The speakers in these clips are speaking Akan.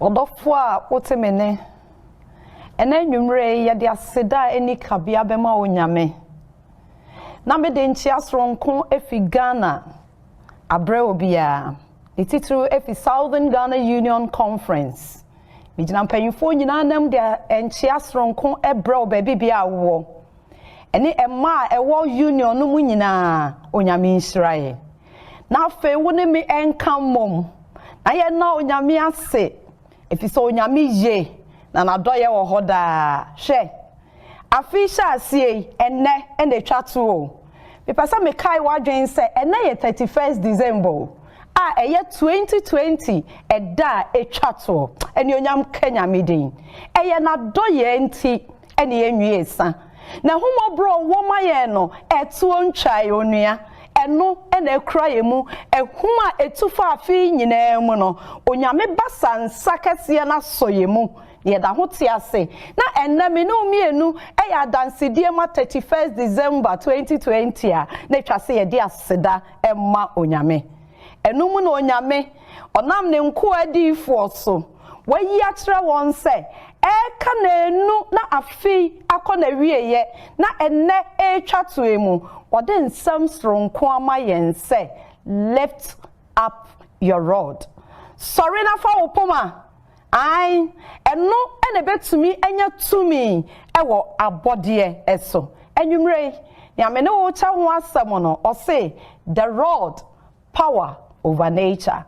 Ɔdɔfoɔ a wote me nne. Ɛnɛ anwummerɛ yi yɛde aseda a ɛni kabea bɛma wo Nyame. Na mede nkyea soronko efi Ghana abrɛ obiara, ne titiriw efi Southern Ghana Union Conference. Megyina mpanyinfoɔ nyinaa nam de nkyea soronko brɛ wo baabi biara a wowɔ, ɛne mmaa a ɛwɔ Union no mu nyinaa, Onyame nhyira yɛ. na afei wo ne me nka mmom na yɛnna onyame ase ɛfiri sɛ onyame ye na n'adɔyɛ wɔ hɔ daa hwɛ afe yi hyɛ aseɛ yi ɛnnɛ ɛna ɛtwa to o mepɛ sɛ mekae w'adwene sɛ ɛnɛ yɛ 31st December o a ɛyɛ 2020 ɛda a ɛtwa toɔ ɛne onyam ka nyame din ɛyɛ n'adɔyɛ nti ɛne ɛnwie sa na ahummɔborɔ a ɔwɔ ma yɛn no ɛtoɔ ntwae onua ɛno ɛna ɛkura yɛn mu ɛhum a ɛtu fa afe nyinaa mu no onyame basa nsa kɛseɛ no asɔ yɛn mu yɛda ho te ase na ɛnna me ne mmienu ɛyɛ adansedie ma 31st December 2020 a na ɛtwa sɛ yɛde aseda ɛma onyame ɛno mu na onyame ɔnam ne nkoa adiifoɔ so Wɔayi akyerɛ wɔn sɛ ɛreka nnanu na afe yi akɔ n'awieeɛ na ɛnnɛ ɛretwa to yi mu, wɔde nsɛm soronko ama yɛn sɛ Lift up your rod, Sɔre na fa wo poma. Aane, ɛno na ɛbɛtumi anya tumi wɔ abɔdeɛ so. Anwummerɛ yi, nea me ne wo rekyɛ ho asɛm no, ɔse, The Rod, power over nature,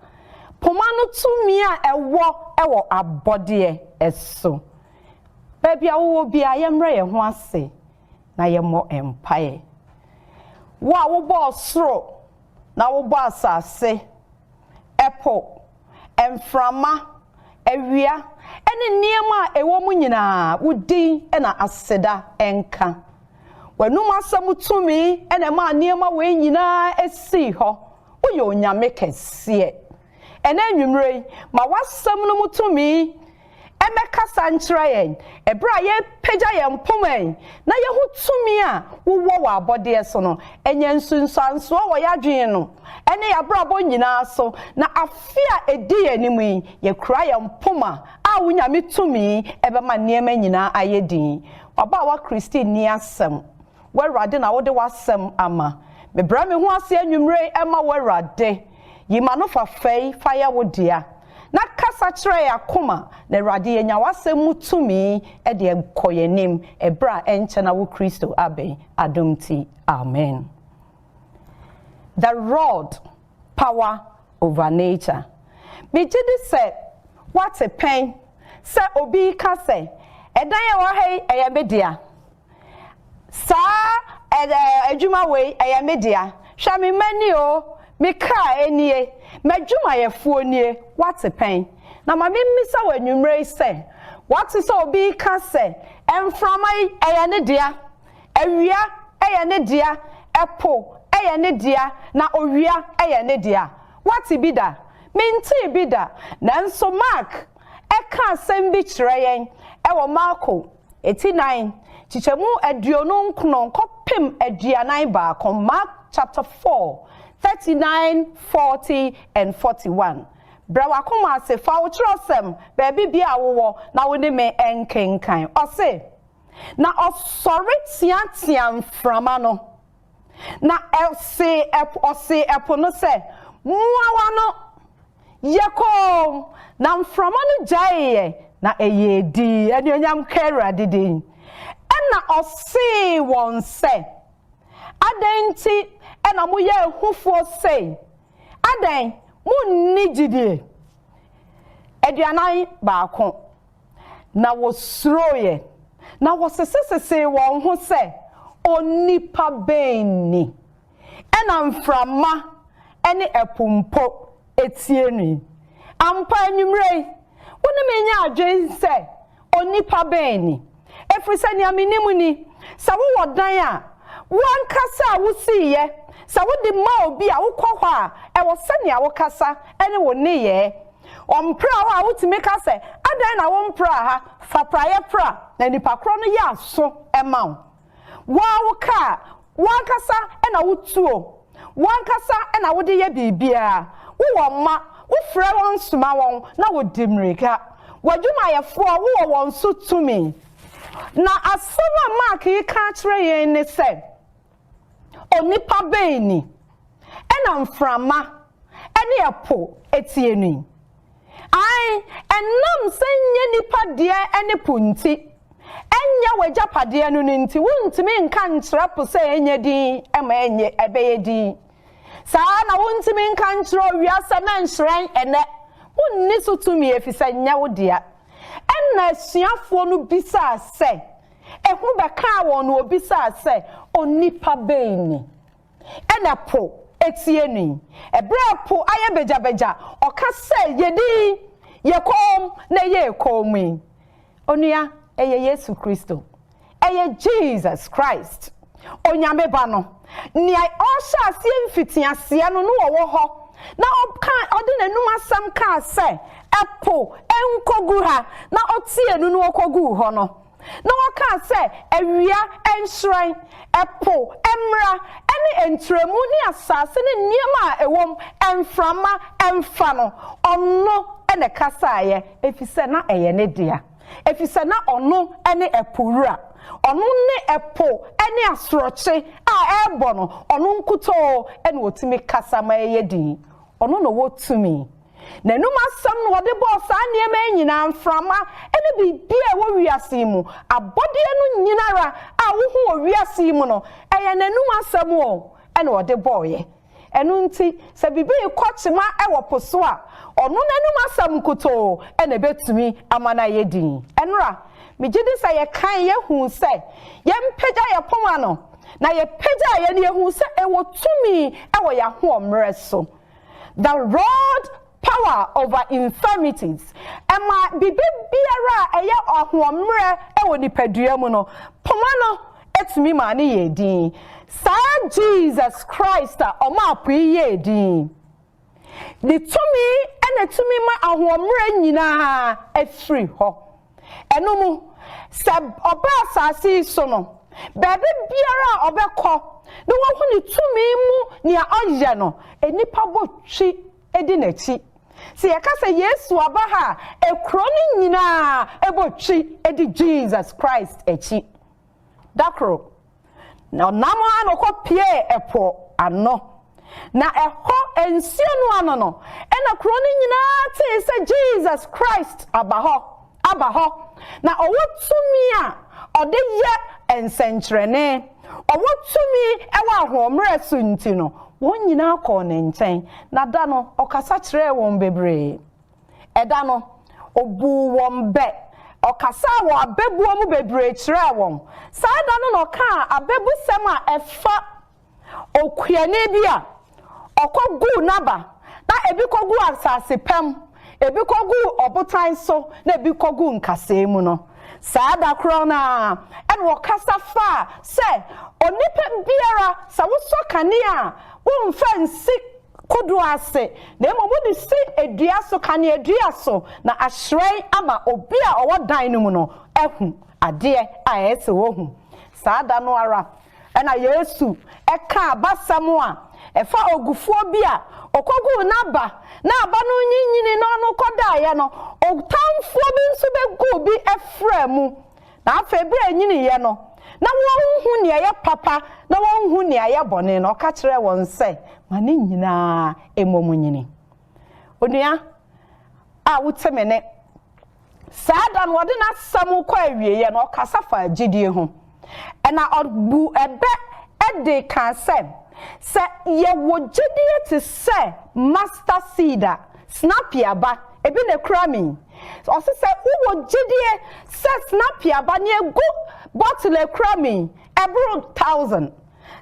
poma no tumi a ɛwɔ wɔ abɔdeɛ so. Baabi a wowɔ biara, yɛmmrɛ yɛn ho ase na yɛmmɔ mpaeɛ. Wo a wobɔɔ soro na wobɔɔ asase, ɛpo, mframa, awia, ne nneɛma a ɛwɔ mu nyinaa, wo din na aseda nka. W'anom asɛm tumi na ɛmaa nneɛma wei nyinaa sii hɔ. Woyɛ Onyame kɛseɛ. Ɛnnɛ anwummerɛ yi, ma w'asɛm no mu tumi mmɛkasa nkyerɛ yɛn bere a yɛrepagya yɛn poma yi na yɛahu tumi a wowɔ wɔ abɔdeɛ so no. Ɛnyɛ nsunsuansoɔ wɔ yɛadwene no ne yɛabrabɔ nyinaa so, na afe a ɛdi yɛn anim yi, yɛkura yɛn poma a wo Nyame tumi bɛma nneɛma nyinaa ayɛ dinn. W'abaawa Christine nni asɛm. Wo Awurade na wode w'asɛm ama. Mebrɛ me ho ase anwummere yi ma wo Awurade, yi m'ano fa fɛ yi fa yɛ wo dea, na kasa kyerɛ yɛn akoma, na Awurade yɛnya w'asɛm mu tumi de akɔ yɛn anim ɛberɛ a ɛnkyɛ na wo Kristo abɛn adom nti, amen. The Rod, Power Over Nature Megye di sɛ woate pɛn sɛ obi reka sɛ, Ɛdan a ɛwɔ ha yi, ɛyɛ me dea. Saa ɛ-ɛ adwuma wei, ɛyɛ me dea. Hwɛ me mma ni o, me kra nie, m'adwumayɛfoɔ nie, woate pɛn? Na ma memmisa wo anwummerɛ yi sɛ, woate sɛ obi reka sɛ, Mframa yi, ɛyɛ ne dea. Awia, ɛyɛ ne dea. Ɛpo, ɛyɛ ne dea. Na owia, ɛyɛ ne dea. Woate bi da? Mentee bi da. Nanso Mark, ɛka asɛm bi kyerɛ yɛn wɔ Marko Eti nan, kyekyɛmu aduonu nkron kɔpem aduanan baako, Mark chapter four, thirty nine, forty and forty one. Brɛ w'akoma ase, fa wo kyerɛwsɛm, baabi biara a wowɔ, na wo ne me nkenkan. Ɔse, Na ɔsɔre teateaa mframa no. Na ɔsee ɛpo, ɔsee ɛpo no sɛ, Mua w'ano! Yɛ komm! Na mframa no gyaeeɛ, na ɛyɛɛ dinn. Anuonyam nka Awurade din. Ɛnna ɔsee wɔn sɛ, Adɛn nti na moyɛ ahufoɔ sei? Adɛn, monni gyidie? Aduanan baako, Na wɔsuroeɛ, na wɔsesesesee wɔn ho sɛ, Onipa bɛn ni? Ɛna mframa ne ɛpo mpo tie no yi. Ampa anwummerɛ yi, wo ne me nyɛ adwene sɛ, Onipa bɛn ni? Ɛfiri sɛ nea menim ni, sɛ wowɔ dan a, wo ankasa a wosiiɛ, sɛ wode ma obi a, wokɔ hɔ a, ɛwɔ sɛnea wokasa ne wo nneyɛɛ. Ɔmpraa hɔ a wotumi ka sɛ, Adɛn na wompraa ha? Fa praeɛ pra, na nnipa korɔ no yɛ aso ma wo. Wo ara wo kaa, wo ankasa na wotuo, wo ankasa na wode yɛ biribiara. Wowɔ mma, wofrɛ wɔn soma wɔn, na wɔdi mmirika. W'adwumayɛfoɔ, wowɔ wɔn so tumi. Na asɛm a Mark reka akyerɛ yɛn ne sɛ, Onipa bɛn ni na mframa ne ɛpo tie no yi? Ae, ɛnam sɛ nyɛ nnipa deɛ ne po nti, ɛnyɛ w'agyapadeɛ no no nti, wontumi nka nkyerɛ po sɛ ɛnyɛ dinn ma ɛnyɛ ɛbɛyɛ dinn. Saa ara na wontumi nka nkyerɛ owia sɛ na nhyerɛn ɛnnɛ. Wonni so tumi efisɛ nyɛ wo dea. Ɛnna asuafoɔ no bisaa sɛ, Ehu bɛkaa wɔn na wɔbisaa sɛ, Onipa bɛn ni? Ɛna po tie no yi. Ɛberɛ a po ayɛ bagyabagya, ɔka sɛ, Yedi, yɛ komm na yɛyɛ komm yi. Onua, ɛyɛ Yesu Kristo. Ɛyɛ Jesus Christ. Onyame Ba no, nea ɔhyɛɛ aseɛ mfitiaseɛ no, na ɔwɔ hɔ, na ɔkaa, ɔde n'anum asɛm kaa sɛ, Ɛpo, nkɔgu ha, na ɔteɛɛ nu na ɔkɔguu hɔ no, na ɔkaa sɛ, Awia, nhyerɛn, ɛpo, mmra, ɛne ntrɛmu, ne asase ne nneɛma a ɛwɔ mu, mframa, mfa no. Ɔno na ɛkasaeɛ, ɛfiri sɛ na ɛyɛ ne dea. efisɛ na ɔno ne ɛpo wura. Ɔno ne ɛpo ne asorɔkye a ɛrebɔ no, ɔno nkutoo na otumi kasa ma ɛyɛ dinn. Ɔno na ɔwɔ tumi. N'anom asɛm na ɔde bɔɔ saa nneɛma yi nyinaa, mframa ne biribiara a ɛwɔ wiase yi mu. Abɔdeɛ no nyinara a wohu wɔ wiase yi mu no, ɛyɛ n'anom asɛm o na ɔde bɔeɛ. Ɛno nti, sɛ biribi rekɔ kyema wɔ po so a, ɔno n'anom asɛm nkutoo na ebetumi ama no ayɛ dinn. Ɛnnora, migye di sɛ yɛkae yɛ hu sɛ yɛmpagya yɛn poma no, na yɛpagyaa yɛ no, yehu sɛ ɛwɔ tumi wɔ yɛn ahoɔmmerɛ so. The Rod Power Over Infirmities, Ɛma biribi biara a ɛyɛ ahoɔmmerɛ wɔ nipadua mu no, poma no tumi maa no yɛɛ dinn. Saa Jesus Christ a ɔmaa po yi yɛɛ dinn Ne tumi na ɛtumi ma ahoɔmmerɛ nyinaa firi hɔ. Ɛno mu, sɛ ɔba asase yi so no, baabi biara a ɔbɛkɔ na wahu ne tumi mu nea ɔyɛ no, nnipa bɔ twi di n'akyi. Sɛ yɛka sɛ Yesu aba ha a, ekuro no nyinaa bɔ twi di Jesus Christ akyi. Da koro, na ɔnam ara na ɔkɔ piee ɛpo ano. Na ɛhɔ nsuo no ano no na kuro no nyinaa tee sɛ Jesus Christ aba hɔ. aba hɔ, na ɔwɔ tumi a ɔde yɛ nsɛnkyerɛnne, ɔwɔ tumi wɔ ahoɔmmerɛ so nti no, wɔn nyinaa kɔɔ ne nkyɛn, na da no, ɔkasa kyerɛɛ wɔn bebree. Ɛda no, ɔbuu wɔn bɛ, ɔkasaa wɔ abɛbuo mu bebree kyerɛɛ wɔn. Saa da no na ɔkaa abɛbusɛm a ɛfa. okuani bi a ɔkoguu n'aba, na ebi koguu asase pa mu, ebi koguu ɔbotan so, na ebi koguu nkasɛɛ mu no, saa da korɔ no ara, ɛna ɔkasa faa sɛ, Onipa biara, sɛ wosɔ kanea a, womfa nsi kodoɔ ase, na mmom wode si dua so, kaneadua so, na ahyerɛn ama obi a ɔwɔ dan no mu no ahu adeɛ a ɛsɛ sɛ ɔhu. Saa da no ara, Ɛnna Yesu kaa abasɛm a ɛfa ogufoɔ bi a ɔkɔguu n'aba na aba no nyinyinii na ɔno kɔdaeɛ no, Ɔtamfoɔ bi nso bɛguu bi afraa mu, na afei berɛ a ɛnyiniiɛ no, na wɔnhu nea ɛyɛ papa na wɔnhu nea ɛyɛ bɔne no, ɔka kyerɛɛ wɔn sɛ, Ma ne nyinaa mmom nnyini. Onua a wote me nne, saa da no ɔde n'asɛm kɔ awieɛ no ɔkasa faa gyidie ho. Ɛna ɔbu ɛbɛ de kaa sɛ, sɛ yɛwɔ gyidie te sɛ master seed a, snappy aba, ebi na ɛkura me yi, ɔse sɛ wowɔ gyidie sɛ snappy aba nea ɛgu bottle a ɛkura me yi ɛboro thousand,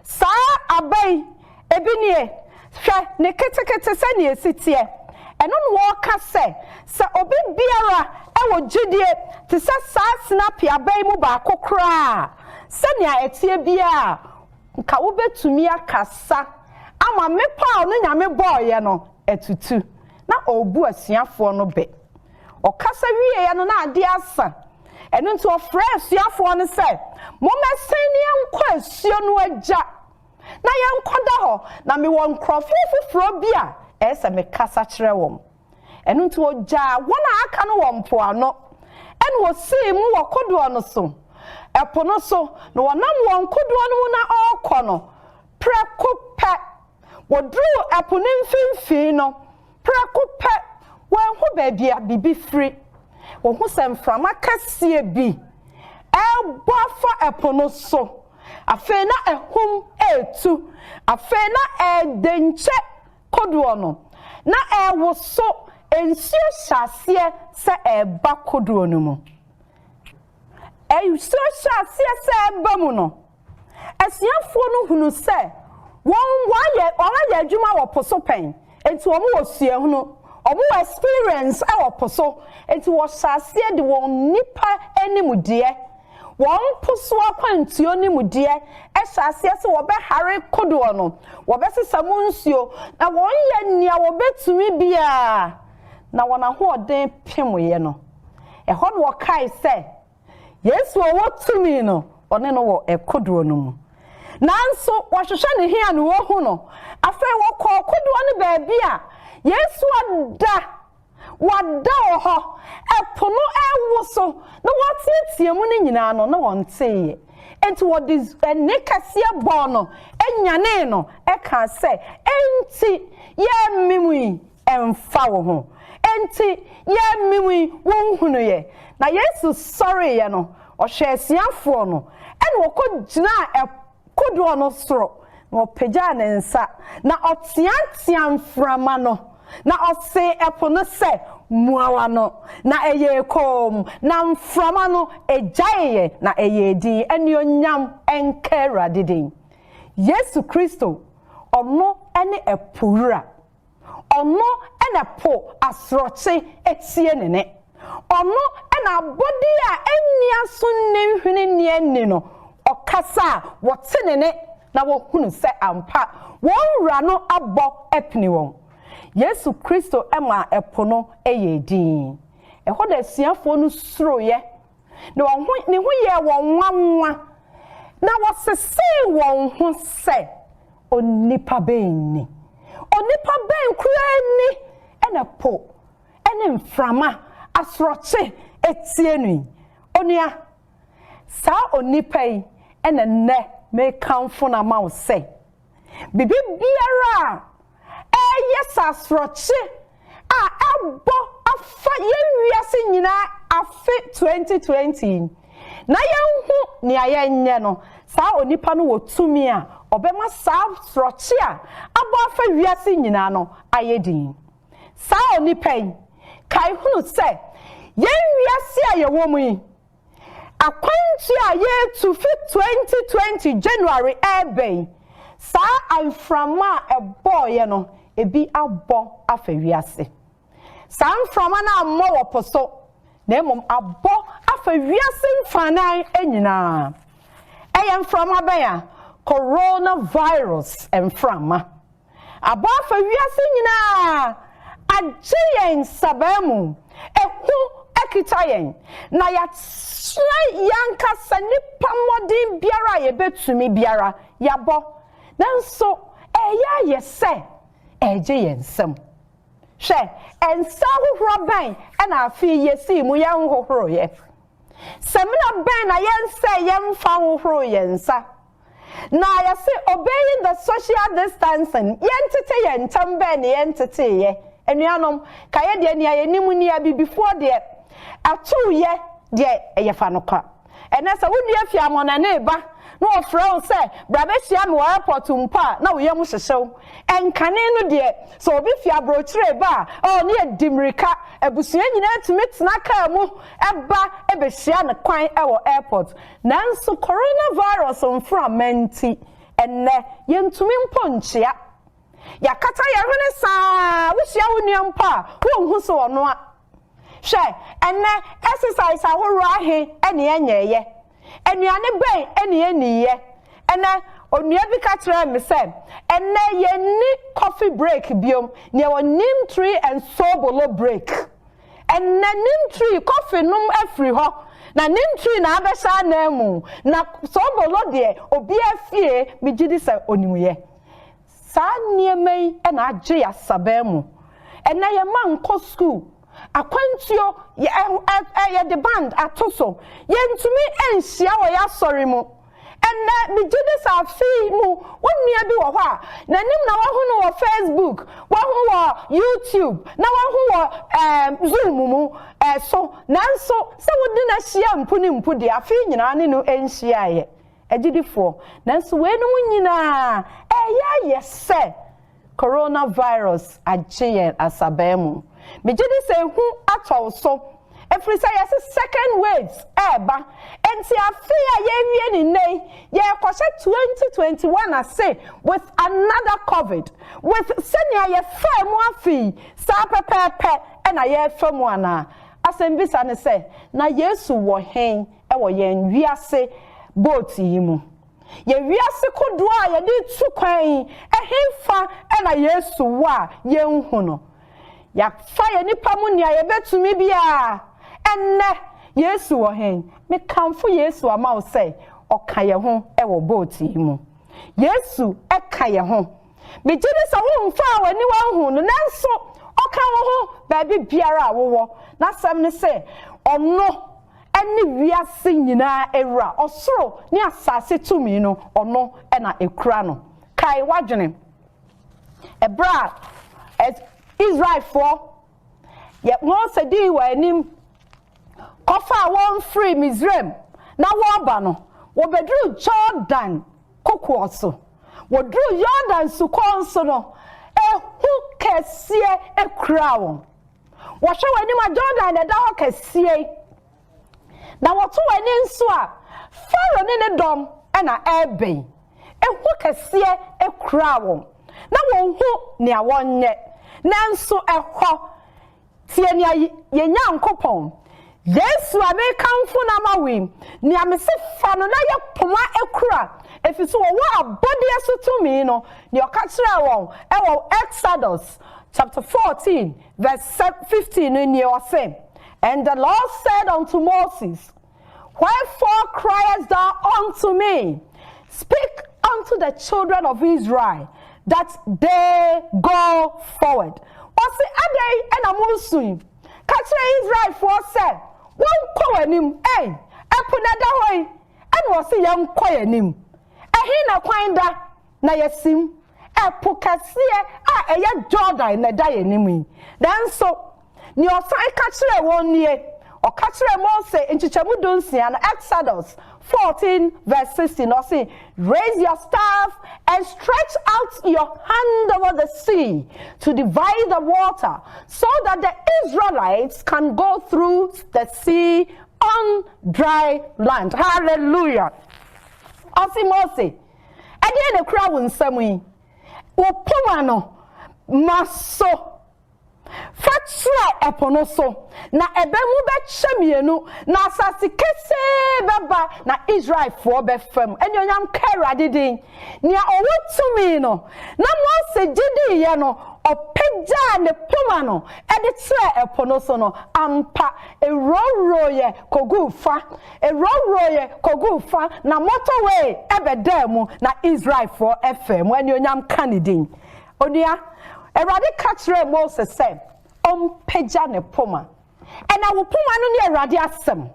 Saa aba yi, ebi nie, Hwɛ ne ketekete sɛnea esi teɛ. Ɛno na wɔka sɛ, sɛ obi biara wɔ gyidie te sɛ saa sinapi aba yi mu baako koraa a, sɛnea ɛteɛ biara a, nka wobɛtumi akasa ama mmepɔw no Nyame bɔeɛ no atutu. na ɔrebu asuafoɔ no bɛ. Ɔkasa wieeɛ no na adeɛ asa, ɛno nti ɔfrɛɛ asuafoɔ no sɛ, Mommɛsen na yɛnkɔ asuo no agya na yɛnkɔda hɔ, na mewɔ nkurɔfoɔ foforɔ bi a ɛyɛ sɛ mekasa kyerɛ wɔn. Ɛno nti ɔgyaa wɔn a aka no wɔ mpoano, ɛnna ɔsii mu wɔ kodoɔ no so, ɛpo no so, na ɔnam wɔn kodoɔ no mu na ɔrekɔ no, prɛko pɛ Wɔduruu ɛpo no mfinimfini no, prɛko pɛ, wɔanhu baabi a biribi firi. Wɔhu sɛ mframa kɛseɛ bi rebɔ afa ɛpo no so. Afei na ahum retu. Afei na ɛredɛnkyɛ kodoɔ no, na ɛrewoso. Nsuo hyɛ aseɛ sɛ ɛreba kodoɔ no mu. Nsuo hyɛ aseɛ sɛ ɛreba mu no. Asuafoɔ no hunu sɛ wɔn wɔayɛ wɔn ayɛ adwuma wɔ po so pɛn, nti wɔn wɔ suahunu, wɔn wɔ experience ɛwɔ po so, nti wɔhyɛ aseɛ de wɔn nnipa animdeɛ, wɔn po so akwantuo nimdeɛ ɛhyɛ aseɛ sɛ wɔbɛhare kodoɔ no, wɔbɛsesa mu nsuo, na wɔn yɛ nea wɔbɛtumi biara na wɔn ahoɔden pemeɛ no. Ɛhɔ na wɔkae sɛ. Yesu a ɔwɔ tumi no, ɔne no wɔ kodoɔ no mu. Nanso wɔhwehwɛ ne he a na wɔahu no? Afei wɔkɔɔ kodoɔ no baabi a Yesu ada, wada wɔ hɔ, ɛpo no rewo so, na wɔteatea mu no nyinaa no, na wɔnteeɛ. Enti wɔde ɛnne kɛseɛ bɔɔ no, nyanee no, ɛkaa sɛ, Enti yɛmmem yi? Ɛmfa wo ho. Enti, yɛmewui, wonhunuiɛ. Na Yesu sɔreeɛ no, ɔhwɛɛ asuafoɔ no, ɛna ɔkɔgyinaa kodoɔ no soro, na ɔpagyaa ne nsa, na ɔteateaa mframa no, na ɔsee ɛpo no sɛ, Mua w'ano! Na ɛyɛɛ komm, na mframa no gyaeeɛ, na ɛyɛɛ dinn. Anuonyam nka Awurade din! Yesu Kristo, ɔno ne ɛpo Wura. Ɔno na po asorɔkye tie ne nne. Ɔno na abɔde a enni aso nni nhwene nni ani no, ɔkasa a, wɔte ne nne na wɔhunu sɛ ampa wɔn Wura no abɔ apini wɔn. Yesu Kristo maa po no yɛɛ dinn. Ɛhɔ na asuafoɔ no suroeɛ, na wɔn ho, ne ho yɛɛ wɔn nwanwa, na wɔsesee wɔn ho sɛ, Onipa bɛn ni? Onipa bɛn koraa ni na po ne mframa, asorɔkye tie no yi? Onua, saa onipa yi na nnɛ merekamfo no ama wo sɛ, biribiara a ɛreyɛ sɛ asorɔkye a ɛbɔ afa yɛn wiase nyinaa afe 2020 yi na yɛnhu nea yɛnyɛ no, saa onipa no wɔ tumi a ɔbɛma saa sorɔkye a abɔ afa wiase nyinaa no ayɛ dinn. Saa onipa yi kae hunu sɛ yɛn wiase a yɛwɔ mu yi Akwantu a yɛretu fi 2020 January reba yi, saa amframa a ɛbɔeɛ no, ebi abɔ afa wiase. Saa mframa no ammɔ wɔ po so, na mmom abɔ afa wiase mfanan nyinaa. Ɛyɛ mframa bɛn a? Coronavirus mframa. abɔ afa wiase nyinaa agye yɛn nsabaa mu, ehu akita yɛn, na yɛakyerɛ yɛn ankasa nnipa mmɔden biara a yebetumi biara, yɛabɔ, nanso ɛreyɛ ayɛ sɛ ɛregye yɛn nsam. Hwɛ nsa ahohora bɛn na afe yi yesii mu yɛnhohoroeɛ! Samina bɛn na yɛnsɛee yɛmfa nhohoroo yɛn nsa! Na yɛse obey the social distancing, yɛntete yɛn ntam bɛn ne yɛnteteeyɛ. Anuanom, ka yɛ deɛ nea yɛnim nie, Abibifoɔ deɛ, atuu yɛ deɛ ɛyɛ fa no kɔ. Ɛnnɛ sɛ wo nua fi amɔnane reba na ɔfrɛ wo sɛ bra bɛhyia me wɔ airport mpo a, na wo yam hyehye wo. Ɛnkane no deɛ, sɛ obi fi aborɔkyire reba a, oh, na yɛdi mmirika, abusua nyinaa tumi tena kaa mu ba bɛhyia no kwan wɔ airport. Nanso coronavirus mframa nti, ɛnnɛ, yentumi mpo nkyea. Yɛakata yɛn hwene saa a, wuhyia wo nua mpo a, wunhu sɛ ɔno a. Hwɛ, ɛnnɛ, exercise ahorow ahe na yɛnyɛeɛ? Nnuane bɛn na yenniiɛ? Ɛnnɛ, onua bi ka kyerɛɛ me sɛ, Ɛnnɛ, yenni coffee break bio, na yɛwɔ neem tree and sobolo break. Ɛnnɛ ne ntwi kɔfe nom afiri hɔ na ne ntwi na abɛhyɛ anan mu na soobolo deɛ obiara fie megyedi sɛ onim yɛ. Saa nneɛma yi na agye yɛn asaban mu. Ɛnnɛ yɛn mma nkɔ sukuu, akwantuo, yɛ ɛ ɛ yɛde band ato so, yɛntumi nhyia wɔ yɛn asɔre mu. Ɛnnɛ, migye di sɛ afe yi mu onua bi wɔ hɔ a n'anim na wɔahu no wɔ Facebook, wɔahu wɔ YouTube, na wɔahu wɔ ɛɛm, Zoom mu ɛɛ, so. Nanso, sɛ wode no ahyia mpo ne mpo deɛ, afe yi nyinaa ne no nhyiaeɛ. Agyidifoɔ, nanso weinom nyinaa ɛreyɛ ayɛ sɛ. Coronavirus agye yɛn asabaa mu. Megye di sɛ ehu atɔ wo so, ɛfiri sɛ yɛse second waves ɛreba. Enti afe a yɛrewie ne nnɛ yi, yɛrekɔhyɛ 2021 ase with another Covid, with sɛnea yɛfaa mu afe yi, saa pɛpɛɛpɛ na yɛrefa mu anaa? Asɛmbisa ne sɛ, na Yesu wɔ hen wɔ yɛn wiase boat yi mu? Yɛ wiase kodoɔ a yɛde retu kwan yi, ɛhefa na Yesu wɔ a yɛnhu no? Yɛafa yɛn nnipa mu nea yɛbɛtumi biara. Ɛnnɛ, Yesu wɔ he? Mekamfo Yesu ama wo sɛ ɔka yɛn ho wɔ boat yi mu. Yesu ka yɛn ho Migye di sɛ womfaa w'aniwa nhuu no, nanso ɔka wo ho baabi biara a wowɔ. N'asɛm ne sɛ, Ɔno ne wiase nyinaa Wura. Ɔsoro ne asase tumi no, ɔno na ekura no. Kae w'adwene bere a Israelfoɔ, Mose dii wɔn anim kɔfaa wɔn firii Misraim na wɔreba no, wɔbɛduruu Jordan kokoɔ so. Wɔduruu Yordan Sukɔɔ no so no, ehu kɛseɛ kuraa wɔn. Wɔhwɛ wɔn anim a, Jordan na ɛda hɔ kɛseɛ yi. Na wɔto wɔn ani nso a, Farao ne ne dɔm na ɛrebɛn. Ehu kɛseɛ kuraa wɔn. Na wɔnhu nea wɔnyɛ. Nanso ɛhɔ Tie nea yɛn Nyankopɔn, Yesu a mekamfo no ama wo yi, nea mese fa no na yɛ koma kura, efisɛ ɔwɔ abɔdeɛ so tumi no, nea ɔka kyerɛɛ wɔn wɔ Exodus chapter 14 verse 15 no nie, ɔse, And the Lord said unto Moses, Wherefore criest thou unto me? Speak unto the children of Israel that they go forward. Ɔse adɛn ɛna mo nsui? Ka kyerɛ Israelfoɔ sɛ wɔnkɔ w'anim. Ei, ɛpo na ɛda hɔ yi, ɛna ɔse yɛnkɔ yɛn anim. Ɛhe na kwan da? na yɛasim. Ɛpo kɛseɛ a ɛyɛ Jordan na ɛda yɛn anim yi. Nanso, nea ɔsan ka kyerɛɛ wɔn nie, ɔka kyerɛɛ Mose nkyekyɛmu dunsia no, Exodus fourteen verse sixteen, ɔse, Raise your staff and stretch out your hand over the sea to divide the water so that the Israelites can go through the sea on dry land. Hallelujah! Ɔse Mose, Ɛdeɛn na ɛkura wo nsam yi? Wo poma no, ma so. Fa tra ɛpo no so, na ɛbɛ mu bɛkyɛ mmienu, na asase kesee bɛba, na Israelfoɔ bɛfa mu. Anuonyam nka Awurade din, nea ɔwɔ tumi no. Na Mose gye diiɛ no, ɔpagyaa ne poma no de trɛɛ ɛpo no so no, ampa, ɛwurawurooeɛ kɔguu fa. Ewurawuroeɛ kɔguu fa, na motorway bɛdaa mu, na Israelfoɔ faa mu. Anuonyam nka ne din. Onua, Awurade ka kyerɛɛ Mose sɛ ɔmpagya ne poma. Ɛna wo poma no ne Awurade asɛm.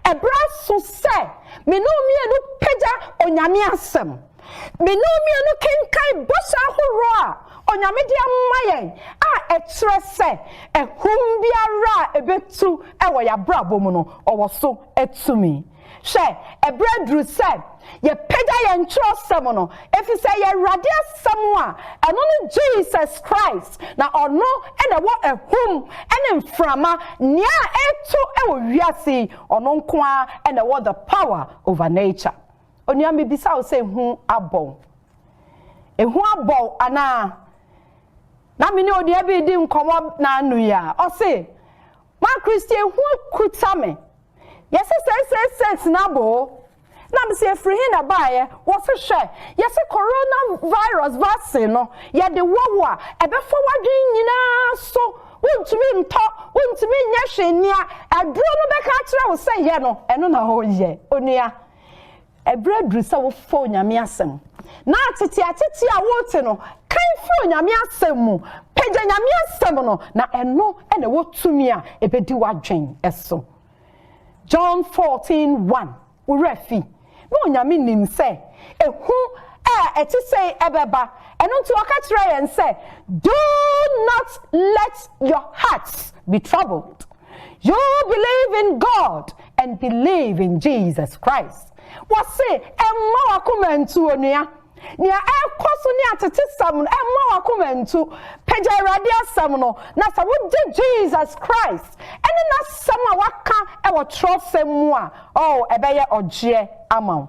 Ɛberɛ aso sɛ me ne wo mmienu pagya Onyame asɛm. Me ne onua no kenkan bɔhyɛ ahorow a Onyame de ama yɛn a ɛkyerɛ sɛ ahum biara a ebetu wɔ yɛn abrabɔ mu no, ɔwɔ so tumi. Hwɛ, ɛbere aduru sɛ yɛpagya yɛn kyerɛwsɛm no, efisɛ ɛyɛ Awurade Asɛm a ɛno ne Jesus Christ, na ɔno na ɛwɔ ahum ne mframa, nea ɛretu wɔ wiase yi, ɔno nko ara na ɛwɔ the power over nature. Onua mebisa wo sɛ ehu abɔ wo? Ehu abɔ wo anaa? Na me ne onua bi redi nkɔmmɔ naano yi a, ɔse, Ma Christy ehu akuta me. Yɛse seisei States no abɔ o. Na mese efiri he na baeɛ? Wɔse hwɛ, yɛse corona virus vaccine no yɛde wɔ wo a, ɛbɛfa w'adwene nyinaa so. Wontumi ntɔ, wontumi nyɛ hwee. Nea aduro no bɛka akyerɛ wo sɛ yɛ no, ɛno na woyɛ. Onua. Ɛberɛ aduru sɛ wofa Onyame asɛm, na ateteatete a worete no kan fi Onyame asɛm mu. Pagya Nyame asɛm no, na ɛno na ɛwɔ tumi a ɛbɛdi w'adwen so. John 14, 1, Wo werɛ afi, na Onyame nim sɛ ehu a ɛte sei ɛbɛba, ɛno nti ɔka kyerɛɛ yɛn sɛ, Do not let your hearts be troubled. You believe in God and believe in Jesus Christ. Wɔse ɛmma wakoma ntu onua. Nea ɛkɔ so ne atetesɛm no ɛmma wakoma ntu. Pagya Awurade asɛm no na sɛ wogye Jesus Christ ɛne n'asɛm a waka ɛwɔ twerɛsɛm mu a, oh ɛbɛyɛ ɔgyeɛ ama wo.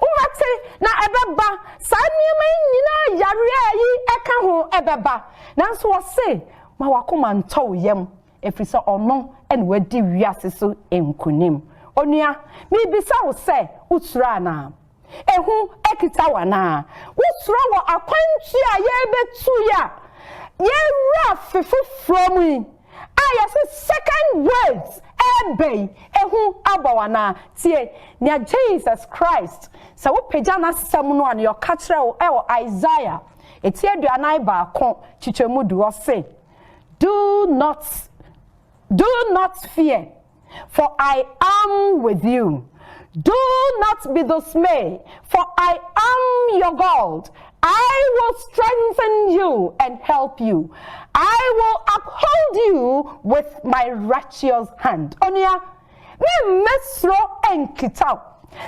Wobɛte, na ɛbɛba, saa nneɛma yi nyina ara, yareɛ a ayi ka ho, ɛbɛba. Nanso ɔse, Ma w'akoma ntɔ wo yam, ɛfiri sɛ ɔno na wadi wiase so nkonim. Onua, merebisa wo sɛ, wosuro anaa? Ehu kita wo anaa? Wosuro wɔ akwantuo a yɛrebɛtu yi a yɛrewura afe foforɔ mu yi? a yɛse second waves ɛɛba yi ehu abɔ wo anaa? Tie nea Jesus Christ, sɛ wopagya n'asɛm no a, nea ɔka kyerɛ wo ɛwɔ Isaiah eti aduanan baako kyekyɛmu du, ɔse, Do not, do not fear. for I am with you. Do not be dismayed, for I am your God. I will strengthen you and help you. I will uphold you with my righteous hand. Onua, me mmɛsoro nkitaw.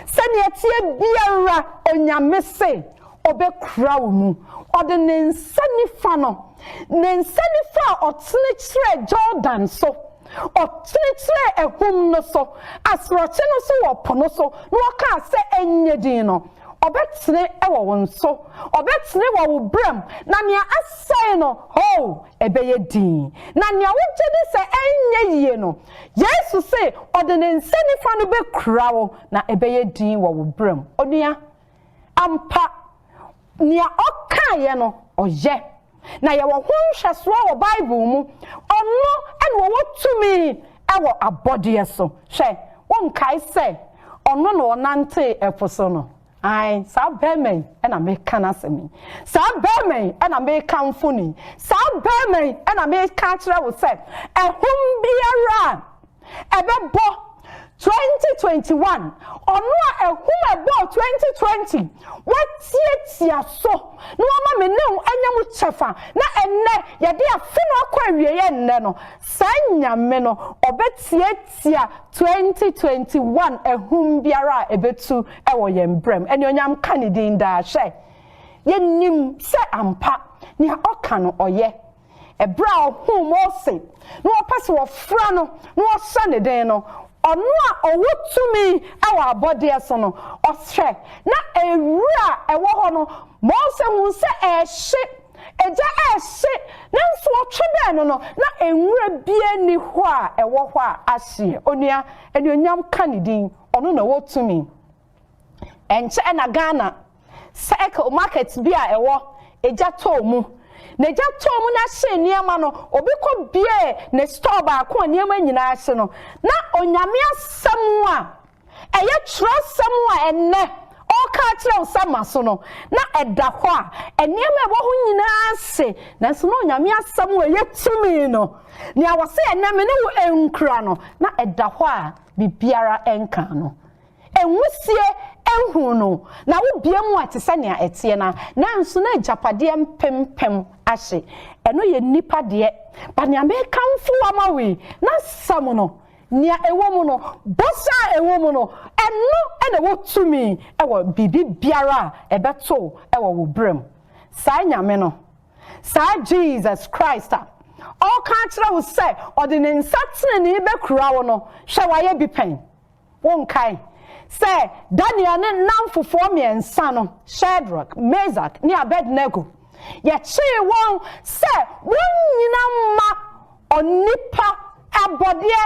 Sɛnea ɛteɛ biara onyame se ɔbɛkura wo mu. Ɔde ne nsa nifa no, ne nsa nifa a ɔtene kyerɛ Jordan so. Ɔkyerekyerɛɛ ahum no so, asorɔkye no so wɔ po no so, na ɔkaa sɛ, Ɛnyɛ din no. Ɔbɛkyere wɔ wo nso. Ɔbɛkyere wɔ wo berɛm, na nea asɛe no, hoo, ɛbɛyɛ din. Na nea wogye di sɛ ɛrenyɛ yie no, Yesu se ɔde ne nsa nifa no bɛkura wo, na ɛbɛyɛ din wɔ wo berɛm. Onua, ampa, Nea ɔkaeɛ no, ɔyɛ. Na yɛwɔ ho nhwɛsoɔ wɔ Bible mu. Ɔno na ɔwɔ tumi wɔ abɔdeɛ so. Hwɛ, wonkae sɛ ɔno na ɔnantee ɛpo so no? Aane, saa barima yi na mereka n'asɛm yi. Saa barima yi na merekamfo no yi. Saa barima yi na mereka akyerɛ wo sɛ, ahum biara a ɛbɛbɔ twenty twenty one ɔno a ɛhum ɛbɔɔ twenty twenty wɔatiatia so na wɔama me ne wo anya mu kyɛfa na ɛnnɛ yɛde afe no akɔ awieɛ nnɛ no saa nyame no ɔbɛtiatia twenty twenty one ɛhum biara a ɛbɛtu ɛwɔ yɛn brɛm ɛne onyam ka ne din daa hwɛ yɛnim sɛ ampa nea ɔka no ɔyɛ Ɛberɛ a ɔhuu Mose na ɔpɛ sɛ ɔfra no na ɔhyɛ ne den no, Ɔno a ɔwɔ tumi wɔ abɔdeɛ so no, ɔhwɛ na wira a ɛwɔ hɔ no, Mose huu sɛ ɛrehye, egya rehye, nanso ɔtwe bɛn no no, na nwira biara nni hɔ a ɛwɔ hɔ a ahyeɛ. Onua, anuonyam ka ne din, ɔno na ɔwɔ tumi. Ɛnkyɛ na Ghana cycle market bi a ɛwɔ Egya tɔɔ mu. Na Egya tɔɔ mu na hyee nneɛma no, obi kɔ biee ne store baako a nneɛma nyinaa hye no, na Onyame asɛm a ɛyɛ twerɛsɛm a ɛnnɛ ɔreka akyerɛ wo sɛ ma so no, na ɛda hɔ a nneɛma a ɛwɔ hɔ nyinaa hye. Nanso na Onyame asɛm a ɛyɛ tumi no, nea wɔse ɛnnɛ me ne wo nkura no, na ɛda hɔ a biribiara nka no. Nwusie nhuu no, na wobue mu a ɛte sɛ nea ɛteɛ no a, nanso na agyapadeɛ mpempem ahye. Ɛno yɛ nnipa deɛ. But nea mekamfo wo ama wo yi, n'asɛm no, nea ɛwɔ mu no, bɔhyɛ a ɛwɔ mu no, ɛno na ɛwɔ tumi wɔ biribi biara a ɛbɛto wɔ wo berɛ mu. Saa Nyame no, saa Jesus Christ a ɔreka akyerɛ wo sɛ ɔde ne nsa tenenee bɛkura wo no, hwɛ wayɛ bi pɛn? Wonkae sɛ Daniel ne nnamfofoɔ mmiɛnsa no, Shadrach, Mesach, ne Abednego, yɛkyee wɔn sɛ wɔnnyina mma onipa abɔdeɛ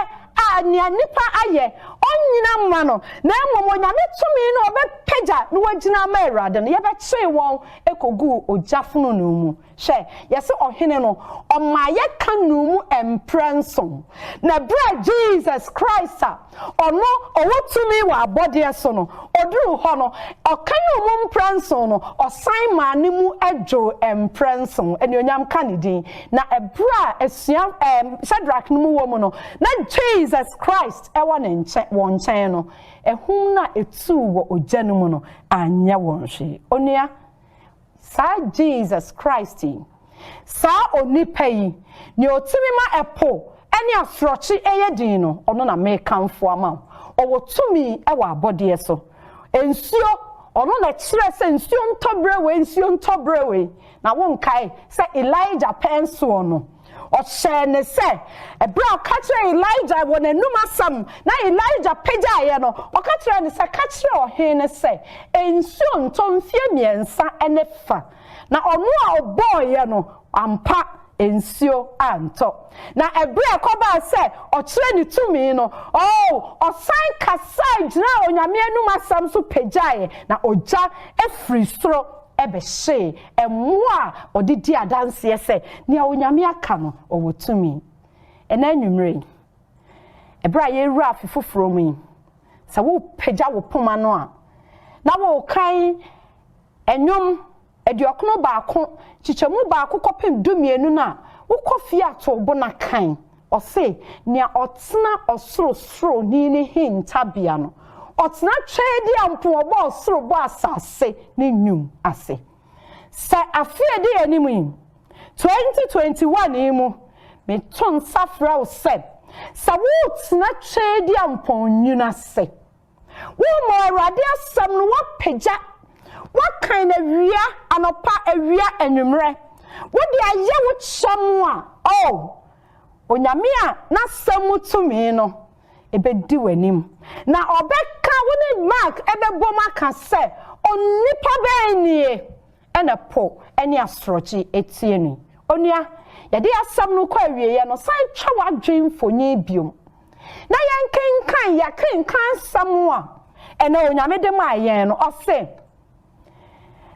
a nea nipa ayɛ, ɔnnyina mma no, na mmom Onyame tumi na ɔbɛpagya na wagyina ama Awurade no, yɛbɛkyee wɔn kɔguu ogya fononoo mu. Hwɛ, yɛse Ɔhene no, ɔma yɛka nuu mu mprɛ nson, na berɛ a Jesus Christ a Ɔno ɔwɔ tumi wɔ abɔdeɛ so no, ɔduruu hɔ no, Ɔka nuu mu mprɛ nson no, ɔsan maa ne mu dwoo mprɛ nson. Anuonyam ka Ne din. Na ɛberɛ a asua, ɛɛ, Shadrach no mu wɔ mu no, na Jesus Christ wɔ ne nkyɛn, wɔn nkyɛn no, ahum no a ɛtuu wɔ ogya no mu no anyɛ wɔn hwee. Onua. Saa Jesus Christ yi, saa Onipa yi, Nea Otumi ma ɛpo ne asorɔkye yɛ dinn no, Ɔno na mekamfo ama wo. Ɔwɔ tumi wɔ abɔdeɛ so. Nsuo, Ɔno na ɛkyerɛɛ sɛ nsuo ntɔ berɛ wei, nsuo ntɔ berɛ wei. Na wonkae sɛ Elijah pɛn soɔ no, Ɔhyɛɛ no sɛ, bere a ɔka kyerɛɛ Elijah wɔ n'anom asɛm na Elijah pagyaeɛ no, ɔka kyerɛɛ no sɛ, Ka kyerɛ ɔhene no sɛ, nsuo ntɔ mfeɛ mmiɛnsa ne fa. Na ɔno a ɔbɔeɛ no, ampa, nsuo antɔ. Na bere a ɛkɔbaa sɛ ɔkyerɛ ne tumi no, oo, ɔsan kasae gyinaa Onyame anom asɛm so pagyaeɛ, na ogya firi soro bɛhyee mmoa a ɔde di adanseɛ sɛ nea Onyame aka no, ɔwɔ tumi. Ɛnnɛ anwummerɛ yi, ɛberɛ a yɛrewura afe foforɔ mu yi, sɛ wopagya wo poma no a, na worekan ɛnwom aduɔkono baako, kyekyɛmu baako kɔpem dumienu no a, wokɔ fie a, to wo bo na kan. Ɔse, Nea ɔtena Ɔsorosoroni no hintabea no, ɔtena Tweadeɛ a mpo ɔbɔ ɔsoro bɔ asase ne nwum ase. Sɛ afe a ɛdi yɛn anim yi, 2021 yi mu, meto nsa frɛ wo sɛ, sɛ woretena Tweadeɛ a mpo nwunu ase, Wommɔ Awurade asɛm no, woapagya, woakan no awia, anɔpa, awia, anwummerɛ. Wode ayɛ wo kyɛm a, O Onyame a n'asɛm mu tumi no, ɛbɛdi w'anim. Na ɔbɛka, wo ne Mark bɛbom aka sɛ, Onipa bɛn nie na po ne asorɔkye tie no yi? Onua, yɛde asɛm no kɔ awieɛ no, san twa w'adwene mfonin biom. na yɛnkenkan yɛ akenkan nsɛm a ɛnɛ onyame de maa yɛn no ɔse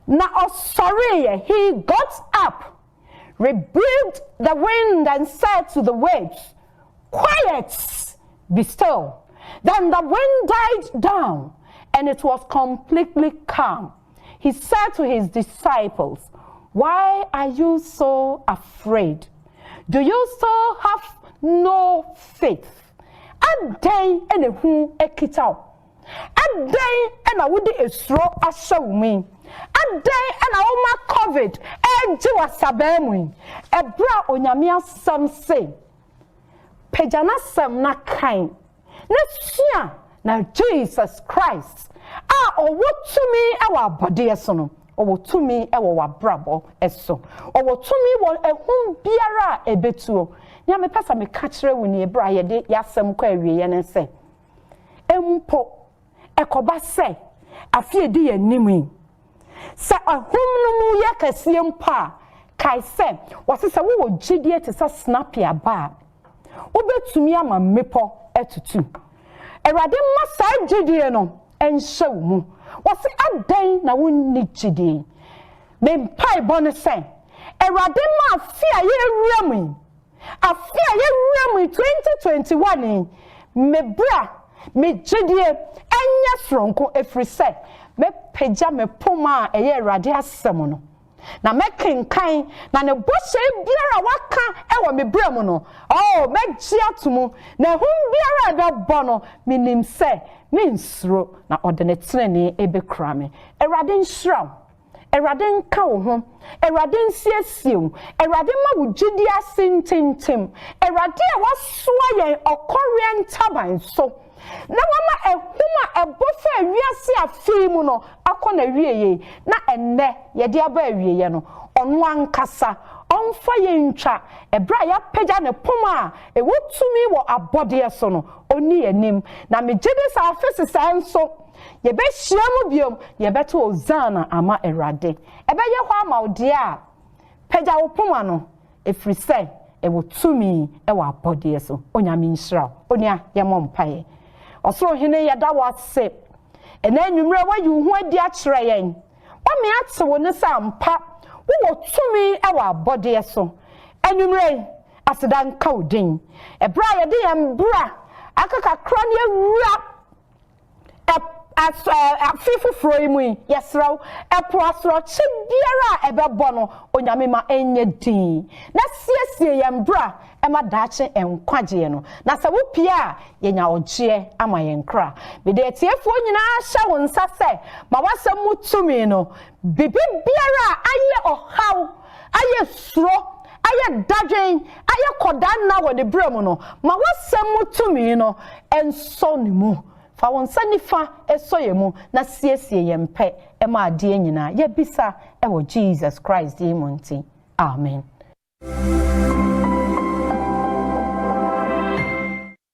na ɔsɔreeɛ he got up rebuked the wind and said to the waves quiet be still then the wind died down and it was completely calm He said to his disciples, Why are you so afraid? Do you still have no faith? Adɛn na ehu akita wo? Adɛn na wode esuro ahyɛ wo mu yi? Adɛn na woma COVID regye w'asabaa mu yi? Ɛberɛ a Onyame asɛm se, Pagya n'asɛm na kan na sua na Jesus Christ a ɔwɔ tumi wɔ abɔdeɛ so no, ɔwɔ tumi wɔ w'abrabɔ so. Ɔwɔ tumi wɔ ahum biara a ɛbɛtuo. Nea mepɛ sɛ meka kyerɛ wo nie berɛ a yɛde yɛasɛm kɔ awieɛ ne sɛ, mpo ɛkɔba sɛ afe a edi yɛn anim yi, sɛ ahum no mu yɛ kɛseɛ mpo a, kae sɛ, wɔse sɛ wowɔ gyedie te sɛ sinapi aba a, wobɛtumi ama mmepɔ atutu. Awurade mma saa gyedie no nhyɛ wo mu. Wɔse adɛn na wonni gyedie yi? Me mpaebɔ ne sɛ, Awurade mma afe a yɛrewura mu yi, Afe a yɛwura mu yi, 2021 yi, me bra, me gyedie, ɛnyɛ soronko, ɛfiri sɛ mɛpagya me poma a ɛyɛ Awurade asɛm no, na mɛkenkan, na ne bɔhyɛ biara a waka wɔ me berɛ mu no, oh, mɛgye ato mu, na ahum biara a ɛbɛbɔ no, menim sɛ merensuro, na ɔde ne tenenee bɛkura me. Awurade nhyira wo. Awurade nka wo ho, Awurade nsiesie wo, Awurade mma wo gyidie ase ntintim, Awurade a wasoa yɛn ɔkɔreɛ ntaban so, na wama ahum a ɛbɔ fa ewiase afe yi mu no akɔ n'awieeɛ, na ɛnnɛ yɛde aba awieeɛ no, ɔno ankasa ɔmfa yɛn ntwa ɛberɛ a yɛapagya ne poma a ɛwɔ tumi wɔ abɔdeɛ so no, ɔnni yɛn anim. Na megyedi sɛ afe sesaɛ nso, Yɛbɛhyiam bio na yɛbɛto Osaana ama Awurade. Ɛbɛyɛ hɔ ama wo deɛ a, pagya wo poma no, ɛfiri sɛ ɛwɔ tumi wɔ abɔdeɛ so. Onyame nhyira wo. Onua, yɛmmɔ mpaeɛ. Ɔsoro Hene, yɛda wo ase. Ɛnnɛ anwummerɛ woayi wo ho adi akyerɛ yɛn. Woame ate wo nne sɛ ampa wowɔ tumi wɔ abɔdeɛ so. Anwummerɛ yi, aseda nka wo din. Ɛberɛ a yɛde yɛn bra aka kakra ne awura, Afe foforɔ yi mu yi, yɛsrɛ wo, ɛpo asorɔkye biara a ɛbɛbɔ no, Onyame ma ɛnyɛ din, na siesie yɛn bra ma daakye nkwagyeɛ no, na sɛ wopue a, yɛnya ɔgyeɛ ama yɛn kra. Mede atiefoɔ nyinaa hyɛ wo nsa sɛ ma w'asɛm mu tumi no, biribiara a ayɛ ɔhaw, ayɛ suro, ayɛ dadwen, ayɛ kɔdaa nna wɔ ne berɛ mu no, ma w'asɛm mu tumi no nsɔ ne mu. Fa wo nsa nifa sɔ yɛn mu na siesie yɛn pɛ ma adeɛ nyinaa. Yɛbisa wɔ Jesus Christ din mu nti, amen.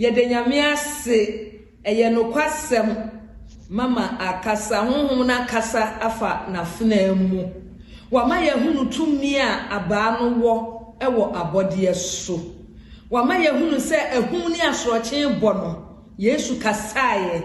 Yɛda Nyame ase, ɛyɛ nokwasɛm, Mama akasa, Honhom no akasa afa n'afenaa mu. Wama yɛahunu tumi a abaa no wɔ wɔ abɔdeɛ so. Wama yɛahunu sɛ ahum ne asorɔkye rebɔ no, Yesu kasaeɛ.